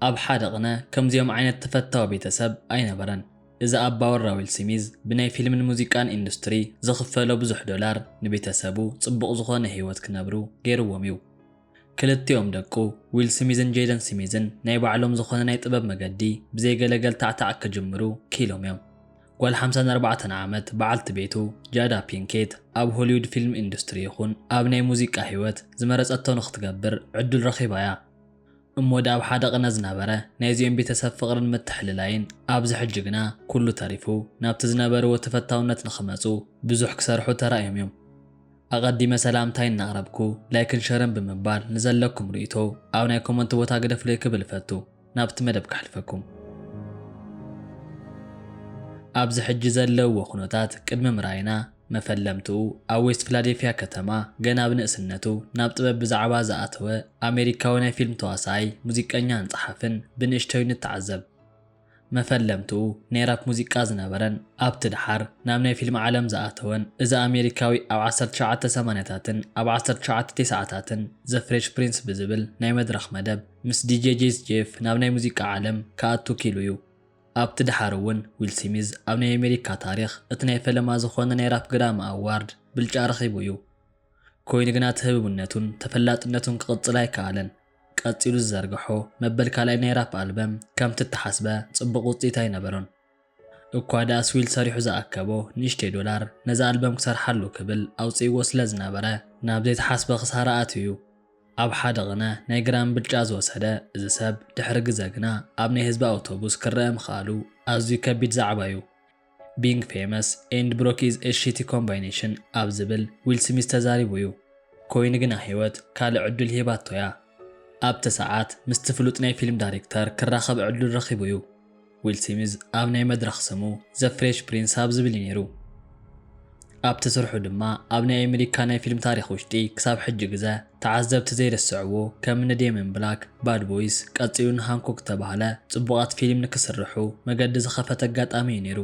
ኣብ ሓደ ቕነ ከምዚኦም ዓይነት ተፈታዊ ቤተሰብ ኣይነበረን። እዚ ኣባወራ ዊል ሲሚዝ ብናይ ፊልምን ሙዚቃን ኢንዱስትሪ ዝኽፈሎ ብዙሕ ዶላር ንቤተሰቡ ጽቡቕ ዝኾነ ህይወት ክነብሩ ገይርዎም እዩ። ክልቲኦም ደቁ ዊል ሲሚዝን ጄደን ሲሚዝን ናይ ባዕሎም ዝኾነ ናይ ጥበብ መገዲ ብዘይ ገለ ገልታዕታዕ ክጅምሩ ክኢሎም እዮም። ጓል ሓምሳን ኣርባዕተን ዓመት በዓልቲ ቤቱ ጃዳ ፒንኬት ኣብ ሆሊውድ ፊልም ኢንዱስትሪ ይኹን ኣብ ናይ ሙዚቃ ህይወት ዝመረጸቶ ንኽትገብር ዕድል ረኺባ እያ። እሞ ድኣ ኣብ ሓደ ቅነ ዝነበረ ናይዚኦም ቤተሰብ ፍቕርን ምትሕልላይን ኣብዚ ሕጂ ግና ኩሉ ተሪፉ ናብቲ ዝነበርዎ ተፈታውነት ንኽመጹ ብዙሕ ክሰርሑ ተራእዮም እዮም። ኣቐዲመ ሰላምታይ እናቕረብኩ ላይክን ሸርን ብምባል ንዘለኩም ርኢቶ ኣብ ናይ ኮመንት ቦታ ግደፍለይ ክብል እፈቱ። ናብቲ መደብ ከሕልፈኩም። ኣብዚ ሕጂ ዘለውዎ ኩነታት ቅድሚ ምርኣይና፣ መፈለምትኡ ኣብ ዌስት ፍላዴፍያ ከተማ ገና ብ ንእስነቱ ናብ ጥበብ ብዛዕባ ዝኣተወ ኣሜሪካዊ ናይ ፊልም ተዋሳኣይ፣ ሙዚቀኛን ጸሓፍን ብንእሽተዩ ንተዓዘብ። መፈለምትኡ ናይ ራፕ ሙዚቃ ዝነበረን ኣብቲ ደሓር ናብ ናይ ፊልም ዓለም ዝኣተወን እዚ ኣሜሪካዊ ኣብ ዓሰርተ ትሽዓተ ሰማንያታትን ኣብ ዓሰርተ ትሽዓተ ቴስዓታትን The Fresh Prince ብዝብል ናይ መድረኽ መደብ ምስ ዲጄ ጄስ ጄፍ ናብ ናይ ሙዚቃ ዓለም ክኣቱ ኪኢሉ'ዩ። ኣብቲ ደሓር'ውን ዊል ሲሚዝ ኣብ ናይ ኣሜሪካ ታሪኽ እቲ ናይ ፈለማ ዝኾነ ናይ ራፕ ግራሚ ኣዋርድ ብልጫ ረኺቡ'ዩ። ኮይኑ ግና እቲ ህብብነቱን ተፈላጥነቱን ክቕጽል ኣይከኣለን። ቀጺሉ ዝዘርግሖ መበል ካልኣይ ናይ ራፕ ኣልበም ከምቲ እተሓስበ ጽቡቕ ውጽኢት ኣይነበሮን። እኳ ድኣስ ዊል ሰሪሑ ዝኣከቦ ንእሽተይ ዶላር ነዛ ኣልበም ክሰርሓሉ ክብል ኣውጺእዎ ስለ ዝነበረ ናብ ዘይተሓስበ ክሳራ ኣትዩ። ኣብ ሓደ ቅነ ናይ ግራም ብልጫ ዝወሰደ እዚ ሰብ ድሕሪ ግዘ ግና ኣብ ናይ ህዝቢ ኣውቶቡስ ክረኣ ምኽኣሉ ኣዝዩ ከቢድ ዛዕባ'ዩ። Being famous and broke is a shitty combination ኣብ ዝብል ዊል ስሚዝ ተዛሪቡ'ዩ። ኮይኑ ግና ህይወት ካልእ ዕዱል ሂባቶ'ያ። ኣብቲ ሰዓት ምስቲ ፍሉጥ ናይ ፊልም ዳሪክተር ክራኸብ ዕዱል ረኺቡ'ዩ። ዊል ሲሚዝ ኣብ ናይ መድረኽ ስሙ ዘ ፍሬሽ ፕሪንስ ኣብ ዝብል እዩ ነይሩ። ኣብቲ ስርሑ ድማ ኣብ ናይ ኣሜሪካ ናይ ፊልም ታሪኽ ውሽጢ ክሳብ ሕጂ ግዘ ተዓዘብቲ ዘይርስዕዎ ከም እኒ ዴመን ብላክ፣ ባድ ቦይስ፣ ቀፂሉ ን ሃንኮክ ዝተባህለ ፅቡቓት ፊሊም ንክስርሑ መገዲ ዝኸፈተ ኣጋጣሚ እዩ ነይሩ።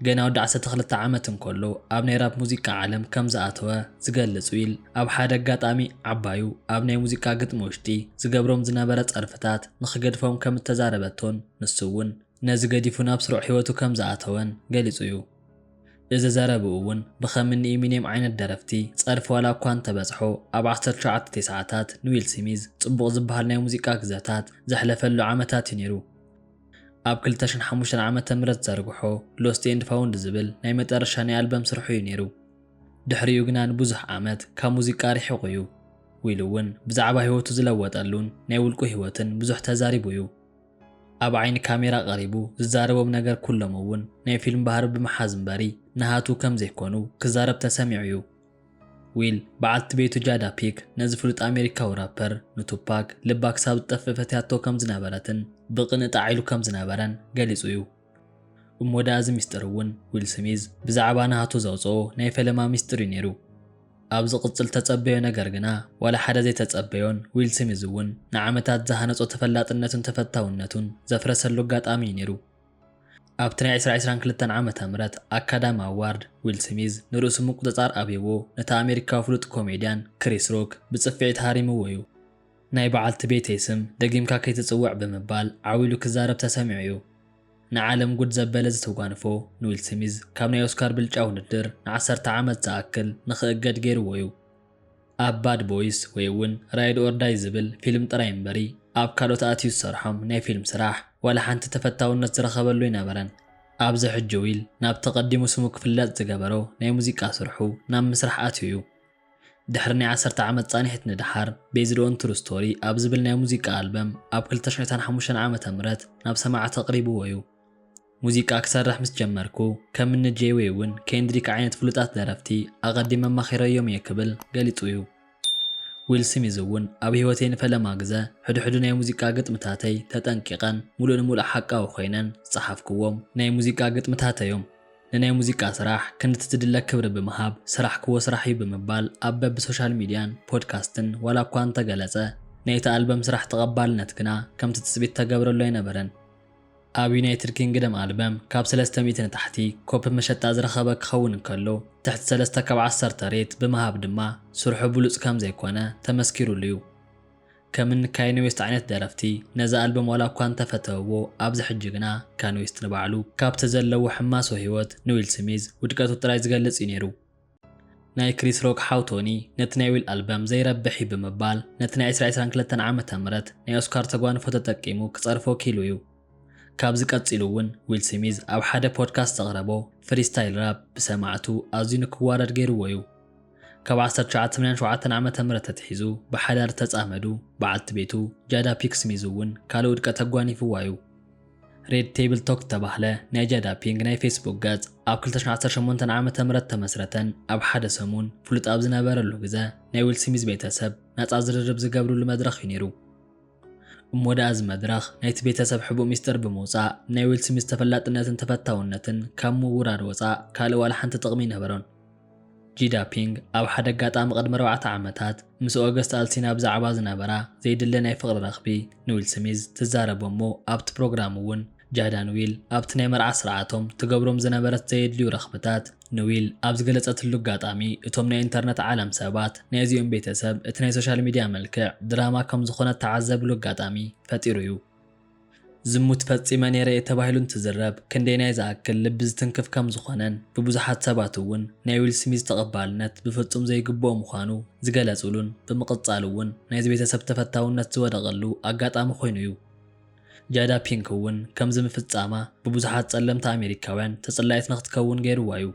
ገና ወዲ ዓሰርተ ክልተ ዓመት እንከሎ ኣብ ናይ ራፕ ሙዚቃ ዓለም ከም ዝኣተወ ዝገልጽ ዊል፣ ኣብ ሓደ ኣጋጣሚ ዓባዩ ኣብ ናይ ሙዚቃ ግጥሚ ውሽጢ ዝገብሮም ዝነበረ ጸርፍታት ንኽገድፎም ከም እተዛረበቶን ንሱ'ውን ነዚ ገዲፉ ናብ ስሩዕ ህይወቱ ከም ዝኣተወን ገሊጹ'ዩ። እዚ ዘረብኡ'ውን ብኸም እኒ ኢሚኔም ዓይነት ደረፍቲ ጸርፊ ዋላ እኳ እንተበጽሖ፣ ኣብ ዓሰርተ ትሽዓተ ቴስዓታት ንዊል ስሚዝ ጽቡቕ ዝበሃል ናይ ሙዚቃ ግዘታት ዘሕለፈሉ ዓመታት'ዩ ነይሩ። ኣብ ክልተ ሽሕን ሓሙሽተን ዓመተ ምህረት ዝዘርግሖ ሎስት ኤንድ ፋውንድ ዝብል ናይ መጠረሻ ናይ ኣልበም ስርሑ እዩ ነይሩ። ድሕሪኡ ግና ንብዙሕ ዓመት ካብ ሙዚቃ ሪሒቑ እዩ። ዊል እውን ብዛዕባ ህይወቱ ዝለወጠሉን ናይ ውልቁ ህይወትን ብዙሕ ተዛሪቡ እዩ። ኣብ ዓይኒ ካሜራ ቀሪቡ ዝዛረቦም ነገር ኩሎም እውን ናይ ፊልም ባህሪ ብምሓዝ እምበሪ ንሃቱ ከም ዘይኮኑ ክዛረብ ተሰሚዑ እዩ። ዊል፣ በዓልቲ ቤቱ ጃዳ ፒክ ነዚ ፍሉጥ ኣሜሪካዊ ራፐር፣ ንቱፓክ ልባ ክሳብ ዝጠፍእ ፈትያቶ ከም ዝነበረትን ብቕንኢ ጣዕ ኢሉ ከም ዝነበረን ገሊጹ እዩ። እሞ ደኣ እዚ ምስጢር እውን ዊል ስሚዝ ብዛዕባ ናሃቱ ዘውጽኦ ናይ ፈለማ ምስጢር እዩ ነይሩ። ኣብ ዝቕጽል እተጸበዮ ነገር ግና ዋላ ሓደ ዘይተጸበዮን ዊል ስሚዝ እውን ንዓመታት ዝሃነጾ ተፈላጥነቱን ተፈታውነቱን ዘፍረሰሉ ኣጋጣሚ እዩ ነይሩ። ኣብቲ ናይ ዕስራ ዕስራን ክልተን ዓመተ ምህረት ኣካዳሚ ኣዋርድ፣ ዊል ስሚዝ ንርእሱ ምቁጽጻር ኣብዩዎ ነቲ ኣሜሪካዊ ፍሉጥ ኮሜድያን ክሪስ ሮክ ብጽፍዒት ሃሪሙዎ'ዩ። ናይ በዓልቲ ቤተይ ስም ደጊምካ ከይትጽውዕ ብምባል ዓው ኢሉ ክዛረብ ተሰሚዑ'ዩ። ንዓለም ጉድ ዘበለ እዚ ተጓንፎ ንዊል ስሚዝ ካብ ናይ ኦስካር ብልጫ ውድድር ንዓሰርተ ዓመት ዝኣክል ንኽእገድ ገይሩዎ'ዩ። ኣብ ባድ ቦይስ ወይ እውን ራይድ ኦር ዳይ ዝብል ፊልም ጥራይ እምበሪ ኣብ ካልኦት ኣእትዩ ዝሰርሖም ናይ ፊልም ስራሕ ዋላ ሓንቲ ተፈታውነት ዝረኸበሉ ኣይነበረን። ኣብዚ ሕጂ ዊል ናብቲ ቀዲሙ ስሙ ክፍለጥ ዝገበሮ ናይ ሙዚቃ ስርሑ ናብ ምስራሕ ኣትዩ እዩ። ድሕሪ ናይ ዓሰርተ ዓመት ጻኒሒት ንደሓር ቤዝድ ኦን ትሩ ስቶሪ ኣብ ዝብል ናይ ሙዚቃ ኣልበም ኣብ ክልተ ሽሕ ዒስራን ሓሙሽተን ዓመተ ምህረት ናብ ሰማዕቲ ኣቕሪብዎ እዩ። ሙዚቃ ክሰርሕ ምስ ጀመርኩ፣ ከም እኒ ጄይ ዌይ'ውን ኬንድሪክ ዓይነት ፍሉጣት ደረፍቲ ኣቐዲመ ኣማኺረዮም'የ ክብል ገሊጹ'ዩ። ዊል ስሚዝ'ውን ኣብ ህይወተይ ንፈለማ ግዘ ሕድሕዱ ናይ ሙዚቃ ግጥምታተይ ተጠንቂቐን ሙሉእ ንሙሉእ ሓቃዊ ኮይነን ዝጸሓፍኩዎም፣ ናይ ሙዚቃ ግጥምታተይ'ዮም፣ ንናይ ሙዚቃ ስራሕ ክንድቲ ዝድለ ክብሪ ብምሃብ ዝሰራሕኩዎ ስራሕ'ዩ ብምባል ኣብ በቢ ሶሻል ሚድያን ፖድካስትን ዋላ'ኳ እንተገለጸ፣ ናይ'ቲ ኣልበም ስራሕ ተቐባልነት ግና ከም'ቲ ትጽቢት ዝተገብረሉ ኣይነበረን። ኣብ ዩናይትድ ኪንግደም ኣልበም ካብ ሰለስተ ሚእቲ ንታሕቲ ኮፒ መሸጣ ዝረኸበ ክኸውን እንከሎ፣ ትሕቲ ሰለስተ ካብ ዓሰርተ ሬት ብምሃብ ድማ ስርሑ ብሉጽ ከም ዘይኮነ ተመስኪሩሉ'ዩ። ከም እኒ ካይነ ዌስት ዓይነት ደረፍቲ ነዚ ኣልበም ዋላ እኳ እንተ ፈተውዎ፣ ኣብዚ ሕጂ ግና ካን ዌስት ንባዕሉ ካብቲ ዘለዎ ሕማሶ ህይወት ንዊል ስሚዝ ውድቀቱ ጥራይ ዝገልጽ'ዩ ነይሩ። ናይ ክሪስ ሮክ ሓው ቶኒ ነቲ ናይ ዊል ኣልበም ዘይረብሕ እዩ ብምባል ነቲ ናይ ዕስራ ዕስራን ክልተን ዓመተ ምህረት ናይ ኦስካር ተጓንፎ ተጠቂሙ ክጸርፎ ኪኢሉ እዩ። ካብዚ ቀጺሉ እውን ዊል ስሚዝ ኣብ ሓደ ፖድካስት ዘቕረቦ ፍሪስታይል ራፕ ብሰማዕቱ ኣዝዩ ንክዋረድ ገይሩዎ እዩ። ካብ ዓሰርተ ትሽዓተ ሰማንያን ሸውዓተን ዓመተ ምህረት ኣትሒዙ ብሓዳር ዝተጻመዱ በዓልቲ ቤቱ ጃዳ ፒክ ስሚዝ እውን ካልእ ውድቀት ኣጓኒፉዋ እዩ። ሬድ ቴብል ቶክ ዝተባህለ ናይ ጃዳ ፒንግ ናይ ፌስቡክ ገጽ ኣብ ክልተ ሽሕን ዓሰርተ ሸሞንተን ዓመተ ምህረት ተመስረተን ኣብ ሓደ ሰሙን ፍሉጥ ኣብ ዝነበረሉ ግዘ ናይ ዊል ስሚዝ ቤተሰብ ናጻ ዝርርብ ዝገብርሉ መድረኽ እዩ ነይሩ። እሞ ደኣ እዚ መድረኽ ናይቲ ቤተሰብ ሕቡእ ሚስጥር ብምውጻእ ናይ ዊል ስሚዝ ተፈላጥነትን ተፈታውነትን ካብ ምውራድ ወጻእ ካልእ ዋላ ሓንቲ ጥቕሚ ኣይነበሮን። ጂዳፒንግ ኣብ ሓደ ኣጋጣሚ ቅድሚ ኣርባዕተ ዓመታት ምስ ኦገስት ኣልሲና ብዛዕባ ዝነበራ ዘይድለ ናይ ፍቕሪ ረኽቢ ንዊል ስሚዝ ትዛረቦ'ሞ ኣብቲ ፕሮግራም'ውን ጃዳ ንዊል ኣብቲ ናይ መርዓ ስርዓቶም ትገብሮም ዝነበረት ዘየድልዩ ረኽብታት ንዊል ኣብ ዝገለጸትሉ ኣጋጣሚ እቶም ናይ ኢንተርነት ዓለም ሰባት ናይ እዚኦም ቤተሰብ እቲ ናይ ሶሻል ሚድያ መልክዕ ድራማ ከምዝኾነ እተዓዘብሉ ኣጋጣሚ ፈጢሩ'ዩ። ዝሙት ፈጺመ ነይረ'የ ተባሂሉ እንትዝረብ ክንደየናይ ዝኣክል ልቢ ዝትንክፍ ከም ዝኾነን ብብዙሓት ሰባት'ውን ናይ ዊል ስሚዝ ተቐባልነት ብፍጹም ዘይግብኦ ምዃኑ ዝገለጹሉን ብምቕጻል'ውን ናይዚ ቤተሰብ ተፈታውነት ዝወደቐሉ ኣጋጣሚ ኮይኑ'ዩ። ጃዳ ፒንክ'ውን ከምዚ ምፍጻማ ብብዙሓት ጸለምቲ ኣሜሪካውያን ተጽላኢት ንኽትከውን ገይሩዋ'ዩ።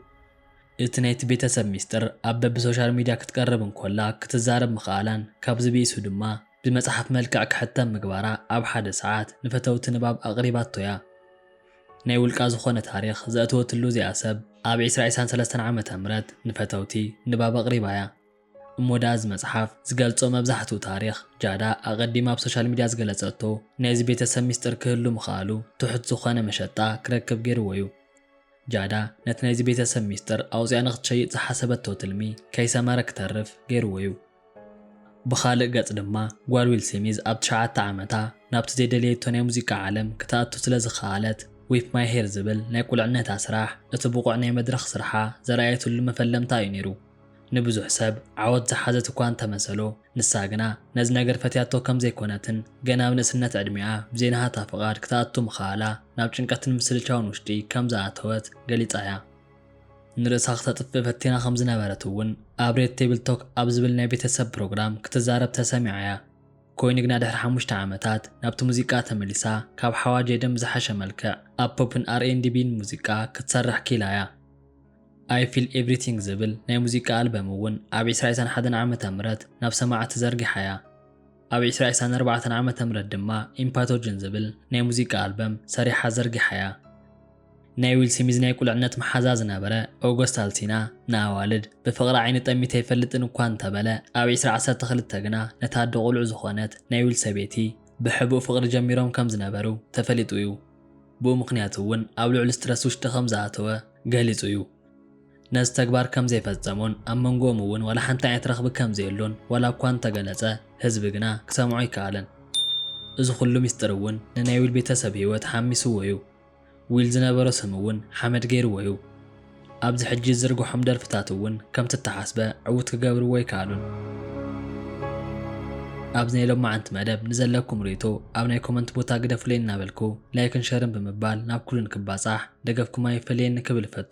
እቲ ናይቲ ቤተሰብ ሚስጥር ኣብ በብሶሻል ሚድያ ክትቀርብ እንኮላ ክትዛረብ ምኽኣላን ካብዚ ብኢሱ ድማ ብመጽሓፍ መልክዕ ክሕተም ምግባራ ኣብ ሓደ ሰዓት ንፈተውቲ ንባብ ኣቕሪባቶ'ያ። ናይ ውልቃ ዝኾነ ታሪኽ ዘእተወትሉ እዚኣ ሰብ ኣብ ዕስራ ዕስራን ሰለስተን ዓመተ ምህረት ንፈተውቲ ንባብ ኣቕሪባ'ያ። እሞ ደኣ እዚ መጽሓፍ ዝገልጾ መብዛሕትኡ ታሪኽ ጃዳ ኣቐዲማ ኣብ ሶሻል ሚድያ ዝገለጸቶ ናይዚ ቤተሰብ ሚስጥር ክህሉ ምኽኣሉ ትሑት ዝኾነ መሸጣ ክረክብ ጌርዎ'ዩ። ጃዳ ነቲ ናይዚ ቤተሰብ ሚስጥር ኣውጺኣ ንኽትሸይጥ ዝሓሰበቶ ትልሚ ከይሰመረ ክተርፍ ጌርዎ'ዩ። ብኻልእ ገጽ ድማ፣ ጓል ዊል ስሚዝ ኣብ ትሽዓተ ዓመታ ናብቲ ዘይደለየቶ ናይ ሙዚቃ ዓለም ክትኣቱ ስለ ዝኸኣለት፣ Whip My Hair ዝብል ናይ ቁልዕነታ ስራሕ፣ እቲ ብቑዕ ናይ መድረኽ ስርሓ ዘርኣየትሉ መፈለምታ እዩ ነይሩ። ንብዙሕ ሰብ ዓወት ዝሓዘት እኳ እንተ መሰሎ፣ ንሳ ግና ነዚ ነገር ፈትያቶ ከም ዘይኰነትን ገና ኣብ ንእስነት ዕድሜኣ ብዘይናሃታ ፍቓድ ክትኣቱ ምኽኣላ ናብ ጭንቀትን ምስልቻውን ውሽጢ ከም ዝኣተወት ገሊጻ እያ። ንርእሳ ክተጥፍእ ፈቲና ከም ዝነበረት እውን ኣብ ሬድ ቴብል ቶክ ኣብ ዝብል ናይ ቤተሰብ ፕሮግራም ክትዛረብ ተሰሚዓ እያ። ኮይኑ ግና ድሕሪ ሓሙሽተ ዓመታት ናብቲ ሙዚቃ ተመሊሳ ካብ ሓዋጅ ኤደን ብዝሓሸ መልክዕ ኣብ ፖፕን ኣር ኤንድ ቢን ሙዚቃ ክትሰርሕ ክኢላ እያ። ኣይ ፊል ኤቭሪቲንግ ዝብል ናይ ሙዚቃ ኣልበም እውን ኣብ ዕስራ ዕስራን ሓደን ዓመተ ምህረት ናብ ሰማዕቲ ዘርጊሓ እያ። ኣብ ዕስራ ዕስራን ኣርባዕተን ዓመተ ምህረት ድማ ኢምፓቶጅን ዝብል ናይ ሙዚቃ ኣልበም ሰሪሓ ዘርጊሓ እያ። ናይ ዊል ስሚዝ ናይ ቁልዕነት መሓዛ ዝነበረ ኦጎስት ኣልሲና ንኣዋልድ ብፍቕሪ ዓይኒ ጠሚተ ኣይፈልጥን እኳ እንተበለ ኣብ ዕስራ ዓሰርተ ክልተ ግና ነታ ኣደ ቁልዑ ዝኾነት ናይ ዊል ሰበይቲ ብሕቡእ ፍቕሪ ጀሚሮም ከም ዝነበሩ ተፈሊጡ እዩ። ብኡ ምኽንያት እውን ኣብ ልዑል ስትረስ ውሽጢ ከም ዝኣተወ ገሊጹ እዩ። ነዚ ተግባር ከም ዘይፈጸሞን ኣብ መንጎኦም እውን ዋላ ሓንቲ ዓይነት ረኽቢ ከም ዘየሎን ዋላ እኳ እንተገለጸ ህዝቢ ግና ክሰምዖ ኣይከኣለን። እዚ ኩሉ ሚስጥር እውን ንናይ ዊል ቤተሰብ ህይወት ሓሚስዎ እዩ። ዊል ዝነበሮ ስም እውን ሓመድ ገይርዎ እዩ። ኣብዚ ሕጂ ዝዝርግሖም ደርፍታት እውን ከምቲ እተሓስበ ዕዉት ክገብርዎ ኣይከኣሉን። ኣብዚ ናይ ሎማዓንቲ መደብ ንዘለኩም ሪኢቶ ኣብ ናይ ኮመንት ቦታ ግደፉለይ እናበልኩ ላይክን ሸርን ብምባል ናብ ኩሉ ንክባፃሕ ደገፍኩም ኣይፈለየኒ ክብል እፈቱ።